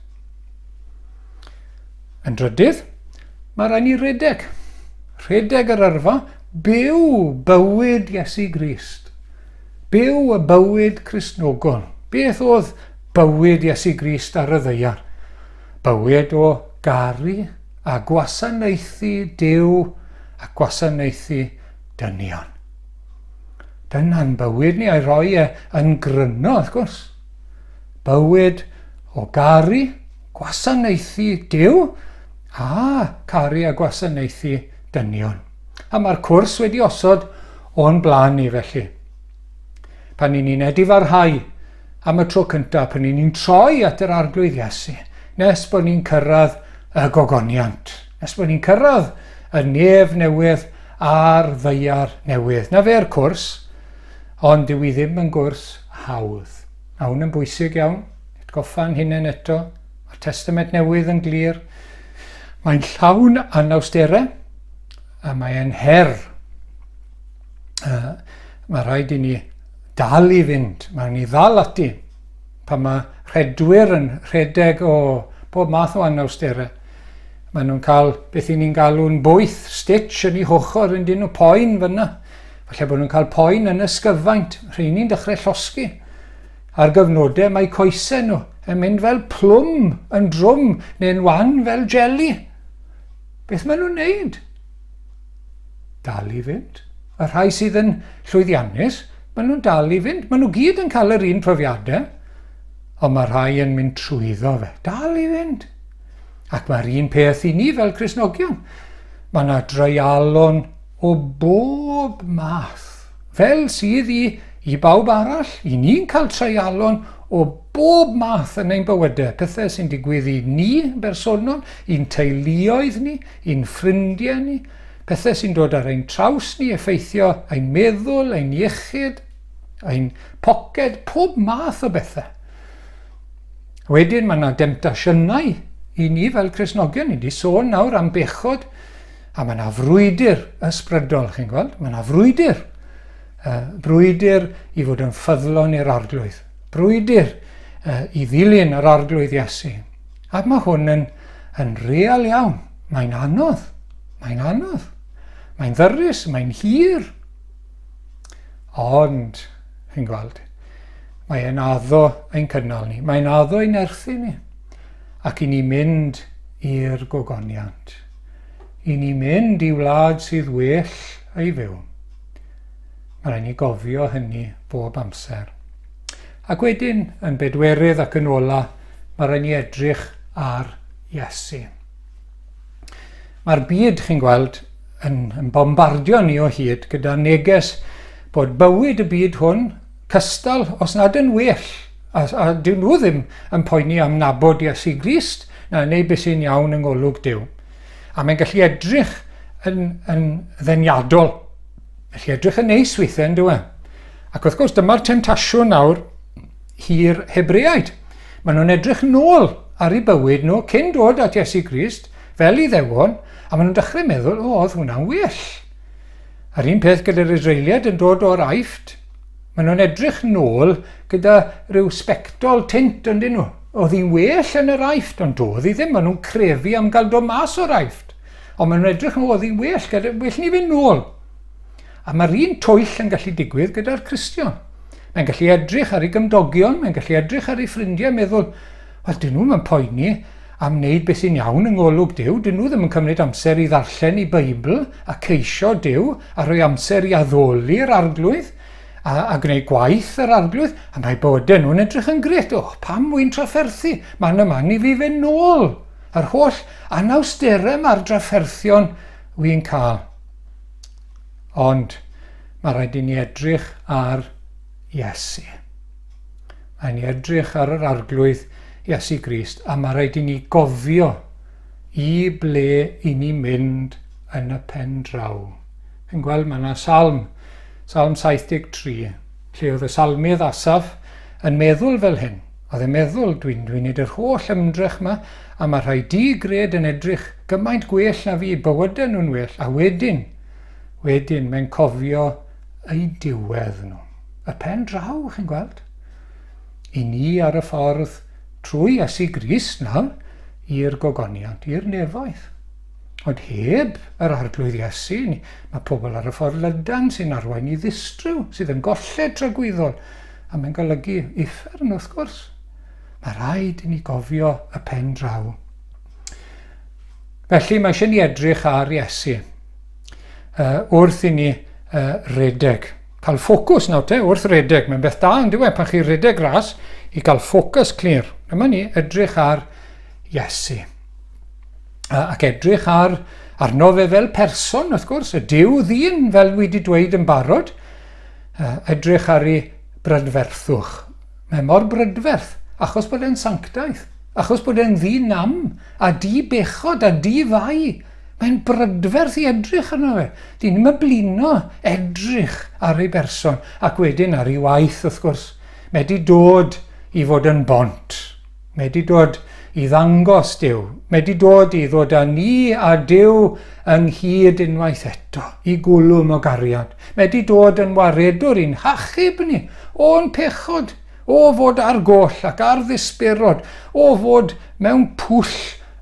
[SPEAKER 1] Yn drydydd, mae rhaid ni redeg. Rhedeg yr yrfa, byw bywyd Iesu Grist. Byw y bywyd Cristnogol. Beth oedd bywyd Iesu Grist ar y ddeiar? Bywyd o garu a gwasanaethu Dyw a gwasanaethu dynion. Dyna'n bywyd ni a'i roi e yn gryno, wrth gwrs. Bywyd o garu, gwasanaethu Duw a caru a gwasanaethu dynion. A mae'r cwrs wedi osod o'n blaen ni felly. Pan i ni'n edifarhau am y tro cyntaf, pan i ni'n troi at yr arglwydd Iesu, nes bod ni'n cyrraedd y gogoniant, nes bod ni'n cyrraedd y nef newydd a'r ddeiar newydd. Na fe'r cwrs, ond dwi ddim yn gwrs hawdd. Mae hwn yn bwysig iawn, atgoffa'n hunain eto, mae'r Testament Newydd yn glir, mae'n llawn anawsterau a mae e'n her. Uh, mae rhaid i ni dal i fynd, mae ni ddal ati pan mae rhedwyr yn rhedeg o pob math o anawsterau. Maen nhw'n cael beth i ni'n galw'n bwyth, stitch yn ei hochr yn dyn nhw poen fyna. Falle bod nhw'n cael poen yn ysgyfaint, rheini'n dechrau llosgi. Ar gyfnodau mae coesau nhw yn mynd fel plwm yn drwm neu'n wan fel jeli. Beth maen nhw'n neud? Dal i fynd. Y rhai sydd yn llwyddiannus, maen nhw'n dal i fynd. Maen nhw gyd yn cael yr un profiadau, ond mae rhai yn mynd trwyddo fe. Dal i fynd. Ac mae'r un peth i ni fel Cresnogion. Mae yna dreialon o bob math. Fel sydd i, i bawb arall, i ni'n cael treialon o bob math yn ein bywydau, pethau sy'n digwydd i ni yn bersonol, i'n teuluoedd ni, i'n ffrindiau ni, pethau sy'n dod ar ein traws ni, effeithio ein meddwl, ein iechyd, ein poced, pob math o bethau. Wedyn mae yna demtasiynau i ni fel Cresnogion, ni wedi sôn nawr am bechod, A mae yna frwydr ysbrydol, chi'n gweld? Mae yna frwydr. Uh, brwydr i fod yn ffyddlon i'r arglwydd. Brwydr uh, i ddilyn yr arglwydd Iesu. Ac mae hwn yn, yn real iawn. Mae'n anodd. Mae'n anodd. Mae'n ddyrus, mae'n hir. Ond, chi'n gweld, mae e'n addo ein cynnal ni. Mae'n addo ein erthu ni. Ac i ni mynd i'r gogoniant. i ni mynd i wlad sydd well ei fyw. Mae rhaid ni gofio hynny bob amser. Ac wedyn, yn bedwerydd ac yn ola, mae rhaid ni edrych ar Iesu. Mae'r byd, chi'n gweld, yn, yn bombardio ni o hyd gyda neges bod bywyd y byd hwn cystal, os nad yn well, a, a dyn nhw ddim yn poeni am nabod Iesu Grist, na neu beth sy'n iawn yng ngolwg Dyw. A mae'n gallu edrych yn, yn ddeniadol. Felly edrych yn neis weithiau yn dywe. Ac wrth gwrs dyma'r temtasiwn nawr hi'r Hebreaid. Maen nhw'n edrych nôl ar ei bywyd nhw cyn dod at Iesu Grist fel i ddewon a maen nhw'n dechrau meddwl, o, oedd hwnna'n well. A'r un peth gyda'r Israeliad yn dod o'r aifft, Maen nhw'n edrych nôl gyda rhyw sbectol tint yndyn nhw. Oedd hi'n well yn yr Aifft, ond doedd hi ddim. Maen nhw'n crefu am gael dod mas o'r Aifft. Ond maen nhw'n edrych nhw, oedd hi'n well, gyda, well ni fynd nôl. A mae'r un twyll yn gallu digwydd gyda'r Cristion. Mae'n gallu edrych ar ei gymdogion, mae'n gallu edrych ar ei ffrindiau, meddwl, Wel, dyn nhw ddim yn poeni am wneud beth sy'n iawn yng ngolwg Duw, dyn nhw ddim yn cymryd amser i ddarllen eu Beibl a ceisio Duw a rhoi amser i addoli'r Arglwydd a, a gwneud gwaith yr Arglwydd, a mae bywydau nhw'n edrych yn grêt. Och, pam wy'n trafferthu? Mae'n ymanu fi fe nôl yr holl anawsterau mae'r drafferthion wy'n cael. Ond mae rhaid i ni edrych ar Iesu. Rhaid ni edrych ar yr Arglwydd, Iesu Grist, a mae rhaid i ni gofio i ble i ni mynd yn y pen draw. Chi'n gweld, mae yna salm, salm 73, lle oedd y salmydd Asaf yn meddwl fel hyn. Oedd e'n meddwl, dwi'n dwi wneud yr holl ymdrech yma, a mae rhai di gred yn edrych gymaint gwell na fi, bywydau nhw'n well, a wedyn, wedyn, mae'n cofio eu diwedd nhw. Y pen draw, chi'n gweld? I ni ar y ffordd trwy Iesu Grist nawr i'r gogoniant, i'r nefoedd. Ond heb yr arglwydd Iesu, mae pobl ar y ffordd lydan sy'n arwain i ddistryw, sydd yn golled tragwyddol, a mae'n golygu uffern wrth gwrs. Mae rhaid i ni gofio y pen draw. Felly mae eisiau ni edrych ar Iesu. wrth i ni redeg. Cael ffocws nawr te wrth redeg. Mae'n beth da yn diwedd pan chi redeg ras i gael ffocws clir. Dyma ni edrych ar Iesu. Ac edrych ar arno fe fel person, wrth gwrs, y diw ddyn, fel dwi wedi dweud yn barod. Edrych ar ei brydferthwch. Mae mor brydferth, achos bod e'n sanctaeth, achos bod e'n ddyn nam, a di bechod, a di fai, Mae'n brydferth i edrych arno fe. Dyn ni'm yn blino edrych ar ei berson ac wedyn ar ei waith wrth gwrs. Medi dod i fod yn bont. Medi dod i ddangos Dyw. Medi dod i ddod â ni a Dyw ynghyd unwaith eto, i gwlwm o gariad. Medi dod yn waredwr i'n hachub ni o'n pechod, o fod ar goll ac ar ddisberod, o fod mewn pwll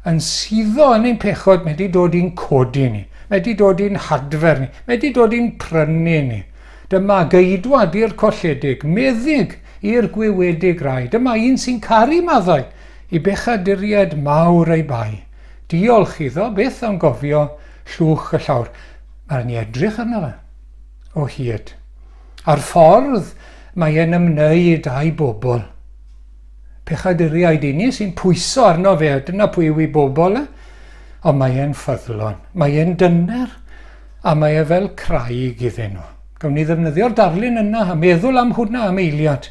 [SPEAKER 1] yn suddo yn ein pechod, mae wedi dod i'n codi ni, mae wedi dod i'n hadfer ni, mae wedi dod i'n prynu ni. Dyma geidwad i'r colledig, meddyg i'r gwiwedig rai. Dyma un sy'n caru maddau i bechaduriaid mawr ei bai. Diolch iddo byth am gofio llwch y llawr. Mae'n ni edrych arno fe o hyd. A'r ffordd mae e'n ymwneud â'i bobl. Pechaduriaid i ni sy'n pwyso arno fe, a dyna pwy yw i bobl e. Ond mae e'n ffyddlon, mae e'n dyner, a mae e fel craig iddyn nhw. Gawn ni ddefnyddio'r darlun yna a meddwl am hwnna am eiliad.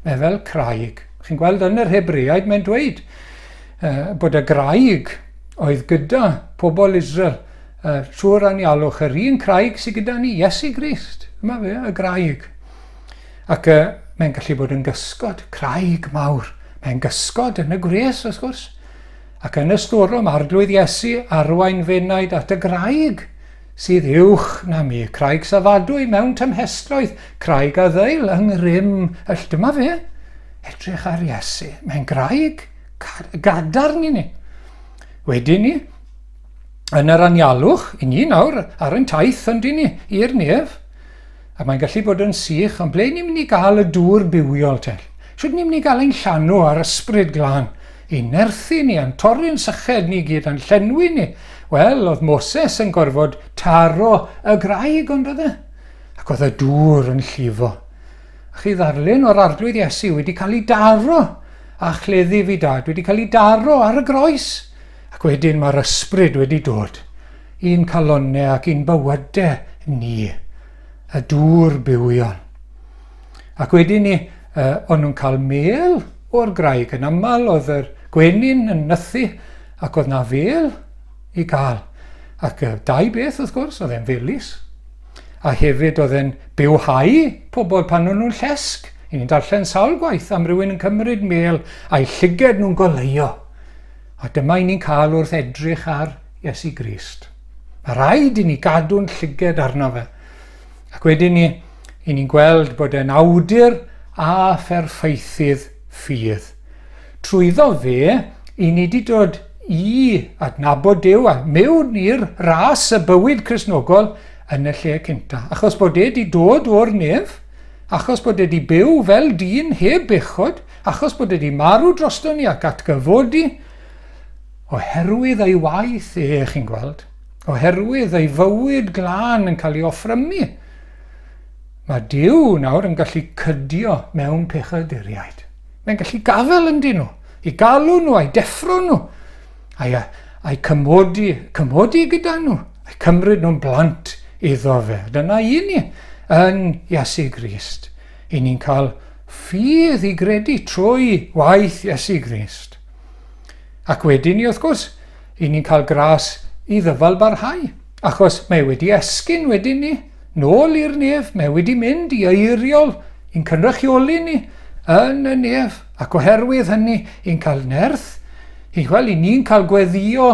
[SPEAKER 1] Mae fel craig. Chi'n gweld yn yr Hebreaid mae'n dweud uh, bod y graig oedd gyda pobl Israel uh, trwy'r anialwch, yr un craig sydd gyda ni, Iesu Grist. Yma fe, y graig. Ac uh, mae'n gallu bod yn gysgod, craig mawr. Mae'n gysgod yn y gwres, wrth gwrs. Ac yn y storom, arglwydd Iesu, arwain fenaid at y graig sydd uwch na mi, craig safadwy mewn tymhestroedd, craig a ddeil yng ngrym y Dyma fe, edrych ar Iesu. Mae'n graig gadarn i ni. Wedyn ni, yn yr anialwch, i ni nawr ar yn taith yn dyn ni, i'r nef, A mae'n gallu bod yn sych, ond ble ni'n mynd i gael y dŵr bywiol te? Shwt ni'n mynd i gael ein llanw a'r ysbryd glân? Ein nerthu ni, a'n torri yn syched ni i gyd, a'n llenwi ni. Wel, oedd Moses yn gorfod taro y graig, ond oedd e? Ac oedd y dŵr yn llifo. A chi ddarlun o'r arglwydd Iesu wedi cael ei daro, a chleddi fi dad wedi cael ei daro ar y groes. Ac wedyn mae'r ysbryd wedi dod. I'n calonne ac i'n bywyde ni y dŵr bywion. Ac wedi ni, uh, o'n nhw'n cael mêl o'r graig yn aml, oedd yr gwenyn yn nythu ac oedd na fel i gael. Ac uh, dau beth wrth gwrs, oedd e'n felus. A hefyd oedd e'n bywhau pobl pan o'n nhw'n llesg. I ni'n darllen sawl gwaith am rywun yn cymryd mêl a'i llyged nhw'n goleuo. A dyma i ni'n cael wrth edrych ar Iesu Grist. Mae rhaid i ni gadw'n llyged arno fe. Ac wedyn ni, i ni'n gweld bod e'n awdur a pherffeithydd ffydd. Trwyddo fe, i ni di dod i adnabod Dyw a mewn i'r ras y bywyd Cresnogol yn y lle cynta. Achos bod e di dod o'r nef, achos bod e di byw fel dyn heb bechod, achos bod e di marw drosto ni ac atgyfodi, Oherwydd ei waith e, chi'n gweld, oherwydd ei fywyd glân yn cael ei offrymu, mae Duw nawr yn gallu cydio mewn pechaduriaid. Mae'n gallu gafel yn dyn nhw, i galw nhw, a'i deffro nhw, a'i, a'i cymodi, cymodi gyda nhw, a'i cymryd nhw'n blant iddo fe. Dyna i ni yn Iesu Grist. I ni'n cael ffydd i gredu trwy waith Iesu Grist. Ac wedyn ni wrth gwrs, i ni'n cael gras i ddyfal barhau, achos mae wedi esgyn wedyn ni, nôl i'r nef, mae wedi mynd i eiriol i'n cynrychioli ni yn y nef, ac oherwydd hynny i'n cael nerth, i, wel, i ni'n cael gweddio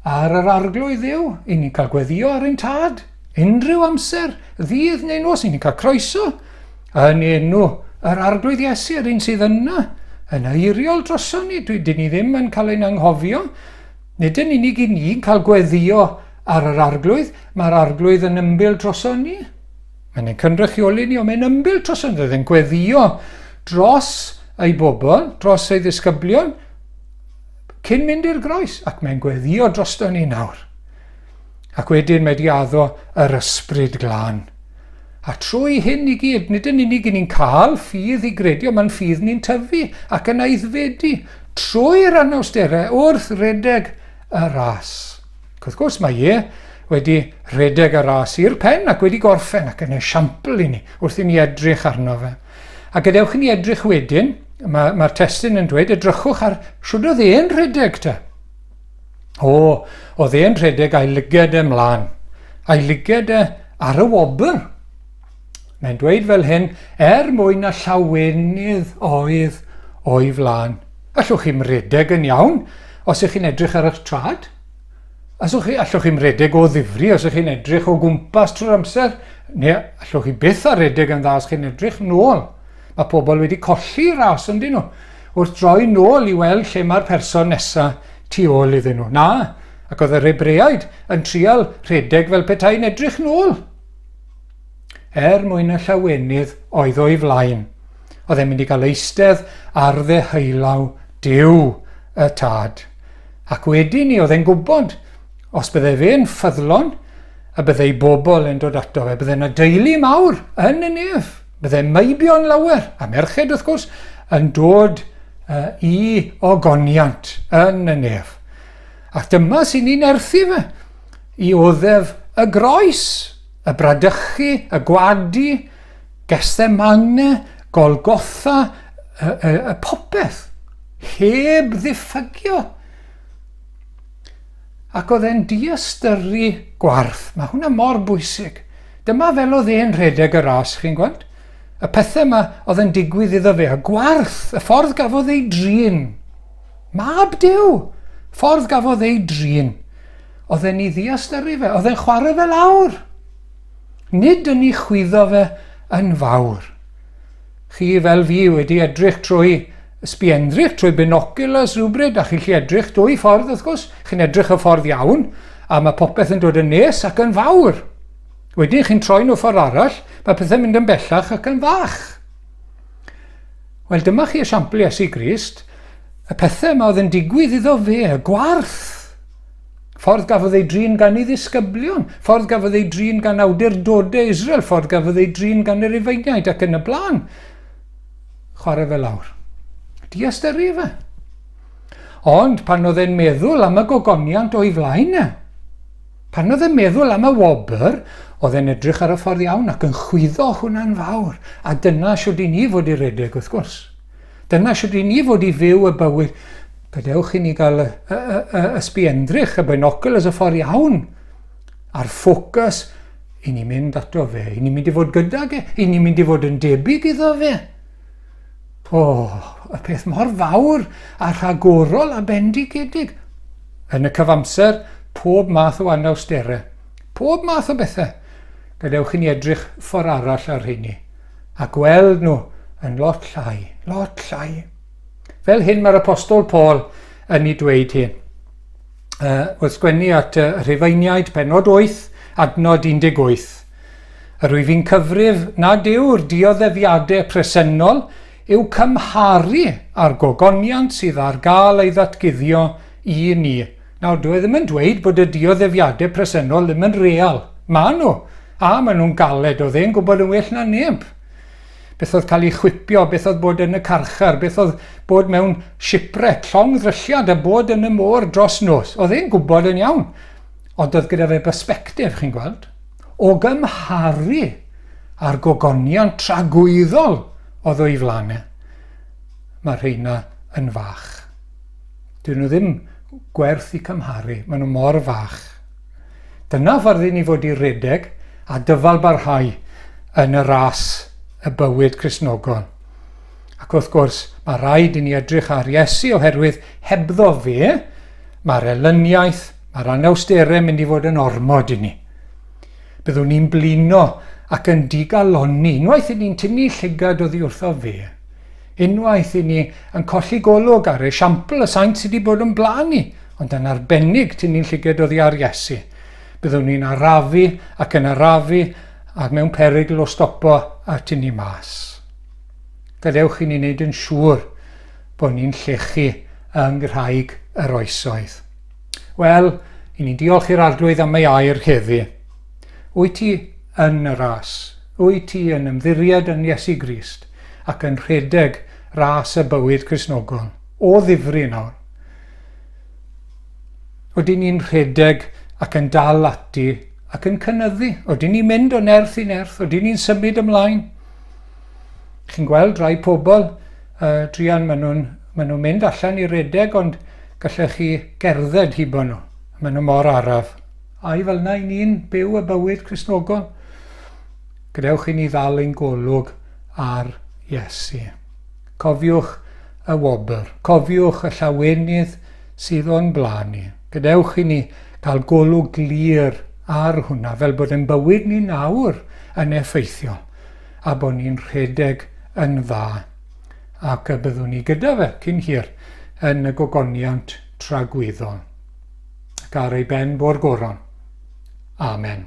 [SPEAKER 1] ar yr arglwydd ddew, i ni'n cael gweddio ar ein tad, unrhyw amser, ddydd neu nos, i ni'n cael croeso, Yn enw yr Arglwydd Iesu, yr un sydd yna, yn eiriol droson ni, dwi, dyn ni ddim yn cael ein anghofio. Nid yn unig i ni'n cael gweddio ar yr Arglwydd, mae'r Arglwydd yn ymbil droson ni. Mae'n ein cynrychioli ni, ond mae'n ymbil droson ni, roedd e'n gweddio dros ei bobl, dros ei ddisgyblion, cyn mynd i'r groes, ac mae'n gweddio drosto ni nawr. Ac wedyn mae di addo yr ysbryd glân. A trwy hyn i gyd, nid yn unig i ni'n cael ffydd i gredu, ond mae'n ffydd ni'n tyfu ac yn aeddfedu trwy'r anawsterau wrth redeg y ras. Ac wrth gwrs mae e wedi redeg y ras i'r pen ac wedi gorffen ac yn esiampl i ni wrth i ni edrych arno fe. A gadewch i ni edrych wedyn, mae'r mae testyn yn dweud, edrychwch ar shwd oedd e'n rhedeg te. O, oedd e'n rhedeg a'i lyged e mlaen. A'i lyged e ar y wobr. Mae'n dweud fel hyn, er mwyn na llawenydd oedd o'i flaen. Allwch chi'm redeg yn iawn os ych chi'n edrych ar eich trad. Allwch chi, allwch chi'm redeg o ddifri os ych chi'n edrych o gwmpas trwy'r amser, neu allwch chi byth ar redeg yn dda os chi'n edrych nôl. Mae pobl wedi colli ras yn dyn nhw. wrth droi nôl i weld lle mae'r person nesa tu ôl iddyn nhw. Na, ac oedd yr Hebreaid yn trial rhedeg fel petai'n edrych nôl. Er mwyn y llawenydd oedd o'i flaen, oedd e'n mynd i gael eistedd ar ddeheulaw Dyw y Tad. Ac wedi ni, oedd e'n gwybod, os bydde fe'n ffyddlon, y bydde ei bobl yn dod ato fe, bydde yna deulu mawr yn y nef. Bydde meibion lawer, a merched wrth gwrs, yn dod uh, i ogoniant yn y nef. Ac dyma sy'n ni'n erthu fe i oddef y groes, y bradychu, y gwadu, gestemane, golgotha, y, y, y popeth, heb ddiffygio. Ac oedd e'n diystyrru gwarth. Mae hwnna mor bwysig. Dyma fel oedd e'n rhedeg y ras, chi'n gweld? Y pethau yma oedd yn digwydd iddo fe, a gwarth, y ffordd gafodd ei drin. Mab Dyw! Ffordd gafodd ei drin. Oedd e'n ei ddiystyrru fe, oedd e'n chwarae fe lawr. Nid yn ei chwyddo fe yn fawr. Chi fel fi wedi edrych trwy sbienddrych, trwy binoculars rhywbryd, a chi'n gallu edrych dwy ffordd wrth gwrs, chi'n edrych y ffordd iawn, a mae popeth yn dod yn nes ac yn fawr. Wedyn chi'n troi nhw ffordd arall, mae pethau'n mynd yn bellach ac yn fach. Wel, dyma chi esiampl Iesu Grist, y pethau yma oedd yn digwydd iddo fe, y gwarth, Ffordd gafodd ei drin gan ei ddisgyblion, ffordd gafodd ei drin gan awdurdodau Israel, ffordd gafodd ei drin gan yr Rufeiniaid ac yn y blaen. Chwarae fe lawr. Di astyru fe. Ond pan oedd e'n meddwl am y gogoniant o'i flaen e, pan oedd e'n meddwl am y wobr, oedd e'n edrych ar y ffordd iawn ac yn chwyddo hwnna'n fawr. A dyna siwrd i ni fod i redeg, wrth gwrs. Dyna sut ry'n ni fod i fyw y bywyd. Gadewch i ni gael y, y, y, y ysbiendrych, y binoculars, y ffordd iawn, a'r ffocws, i ni mynd ato fe, i ni mynd i fod gydag e, i ni mynd i fod yn debyg iddo fe. O, oh, y peth mor fawr a rhagorol a bendigedig. Yn y cyfamser, pob math o anawsterau, pob math o bethau. Gadewch i ni edrych ffordd arall ar hynny. a gweld nhw yn lot llai, lot llai. Fel hyn mae'r apostol Paul yn ei dweud hyn. Uh, wrth sgwennu at y uh, Rhufeiniaid penod 8, adnod 18. Yr wyf i'n cyfrif nad yw'r dioddefiadau presennol yw cymharu â'r gogoniant sydd ar gael ei ddatguddio i ni Nawr, dw i ddim yn dweud bod y dioddefiadau presennol ddim yn real. Maen nhw, a maen nhw'n galed, oedd e'n gwybod yn well na neb. Beth oedd cael ei chwipio, beth oedd bod yn y carchar, beth oedd bod mewn shipwreck, llong ddrylliad a bod yn y môr dros nos. Oedd e'n gwybod yn iawn. Ond oedd gyda fe bersbectif, chi'n gweld, o gymharu a'r gogoniant tragwyddol oedd o'i flaen e. Mae rheina yn fach. Dyn nhw ddim gwerth i cymharu, maen nhw mor fach. Dyna ffordd i ni fod i redeg a dyfalbarhau yn y ras y bywyd Crisnogol. Ac wrth gwrs, mae rhaid i ni edrych ar Iesu oherwydd hebddo fe, mae'r elyniaeth, mae'r anawsterau mynd i fod yn ormod i ni. Byddwn ni'n blino ac yn digalonni unwaith i ni'n tynnu llygad oddi wrtho fe. Unwaith i ni yn colli golwg ar esiampl y saint sydd wedi bod o'n blaen ni, ond yn arbennig tynnu'n llyged oddi ar Iesu, byddwn ni'n arafu ac yn arafu ac mewn perygl o stopo a tynnu mas. Gadewch i ni wneud yn siŵr bod ni'n llechu yng Nghraig yr Oesoedd. Wel, i ni'n diolch i'r Arglwydd am ei air heddi. Wyt ti yn y ras? Wyt ti yn ymddiried yn Iesu Grist? ac yn rhedeg ras y bywyd Cristnogol o ddifri nawr. Oedden ni'n rhedeg ac yn dal ati ac yn cynyddu. Oedden ni'n mynd o nerth i nerth, oedden ni'n symud ymlaen. Chi'n gweld rai pobl, uh, Drian, maen nhw'n ma nhw mynd allan i redeg ond gallech chi gerdded hibo nhw. Maen nhw mor araf. Ai fel yna i ni'n byw y bywyd Cristnogol? Gadewch i ni ddal ein golwg ar Iesu. Cofiwch y wobr. Cofiwch y llawenydd sydd o'n blaen ni. Gadewch i ni gael golwg glir ar hwnna, fel bod ein bywyd ni nawr yn effeithiol, a bod ni'n rhedeg yn dda, ac y byddwn ni gyda fe cyn hir yn y gogoniant tragwyddol, ac ar ei ben bo'r goron. Amen.